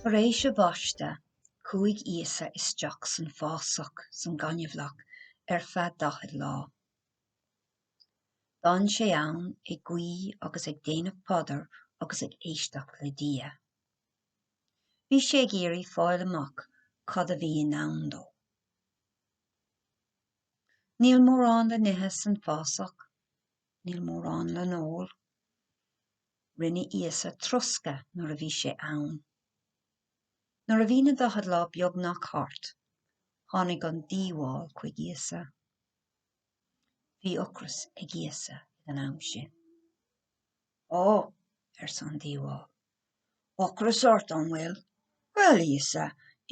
Tar éis a bhaisteadh, chuaigh Íosa isteach san fásach san gaineamhlach ar feadh daichead lá. D'fhan sé ann ag guí agus ag déanamh paidir agus ag éisteacht le Dia. Bhí sé ag iarraidh fáil amach cad a bhí i ndán dó. Níl mórán le n-ithe san fásach, níl mórán le n-ól. Rinne Íosa troscadh nuair a bhí sé ann. Nuair a bhí na daichead lá beagnach thart, tháinig an diabhal chuig Íosa. Bhí ocras ag Íosa ag an am sin. Ó! arsa an diabhal. Ocras ort, an bhfuil? Bhuel, a Íosa,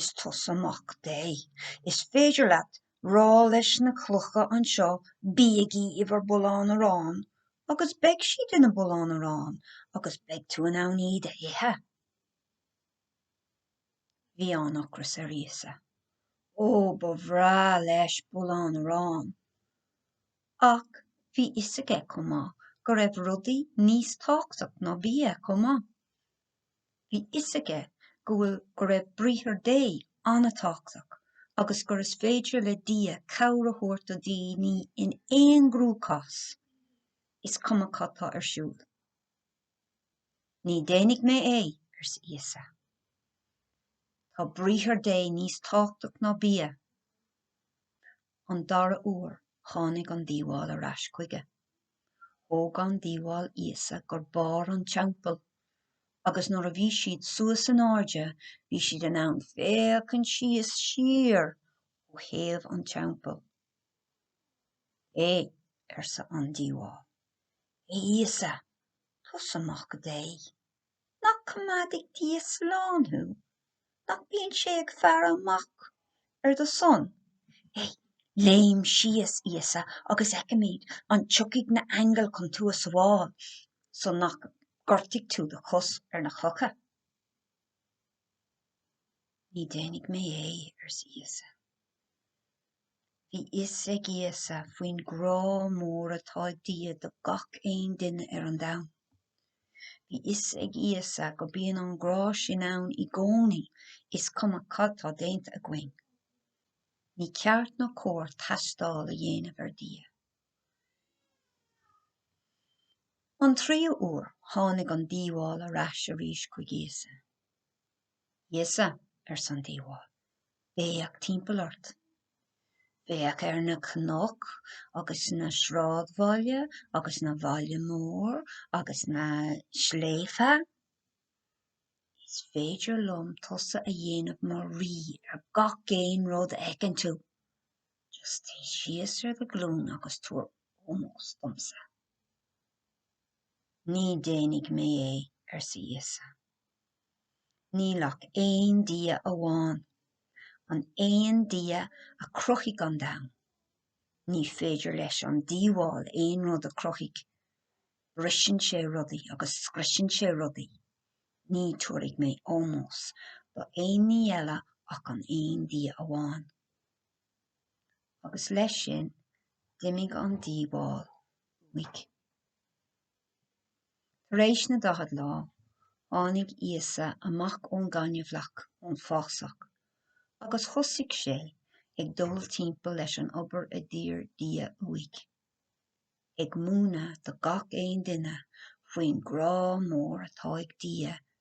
is tusa Mac Dé. Is féidir leat rá leis na clocha anseo 'Bígí i bhur mbullán aráin' agus beidh siad ina mbulán aráin agus beidh tú in ann iad a ithe. Bhí an-ocras ar Íosa. Ó, ba bhreá leis bulán arán! Ach bhí fhios aige chomh maith go raibh rudaí níos tábhachtach ná bia chomh maith. Bhí fhios aige go bhfuil go raibh Briathar Dé an-tábhachtach agus gur is féidir le Dia cabhair a thabhairt do dhaoine in aon chruachás, is cuma cad tá ar siúl. Ní déanfaidh mé é, arsa Íosa. Tá briathar Dé níos tábhachtach ná bia. An dara uair tháinig an diabhal ar ais chuige. Thóg an diabhal Íosa go barr an Teampaill agus nuair a bhí siad suas in airde bhí siad in ann féachaint síos siar ó thaobh an Teampaill. Hé, arsa an diabhal, hé Íosa, is tusa Mac Dé? Nach gcoimeádfaidh Dia slán thú? Nach bíonn sé ag faire amach ar do son? Hé, léim síos, Íosa, agus feicfimid an dtiocfaidh na haingil chun tú a sabháil, so nach ngortóidh tú do chos ar na clocha? Ní déanfaidh mé é, arsa Íosa. Bhí fhios ag Íosa faoin grá mór atá ag Dia do gach aon duine ar an domhan. Bhí fhios ag Íosa go bíonn an grá sin ann i gcónaí is cuma cad tá déanta againn. Ní ceart nó cóir tástáil a dhéanamh ar Dia. An tríú uair, tháinig an diabhal ar ais arís chuig Íosa. 'Íosa, arsa an diabhal, 'féach timpeall ort. Féach ar na cnoic agus na sráidbhaile agus na bhaile mór agus na sléibhte. Is féidir liom tusa a dhéanamh mar rí ar gach aon rud a fheiceann tú. Just téigh síos ar do ghlúin agus tabhair ómós domsa. 'Ní déanfaidh mé é, arsa Íosa. Níl ach aon Dia amháin, an aon Dia a chruthaigh an domhan. Ní féidir leis an diabhal aon rud a chruthaigh. Briseann sé rudaí agus scriosann sé rudaí. Ní tabharfaidh mé ómós do aon ní eile ach an aon Dia amháin. Agus leis sin, d'imigh an diabhal uaidh. Tar éis na daichead lá, tháinig Íosa amach ón ngaineamhlach, ón fásach, agus thosaigh sé ag dul timpeall leis an obair a d'iarr Dia uaidh, ag múineadh do gach aon duine faoin grá mór atá ag Dia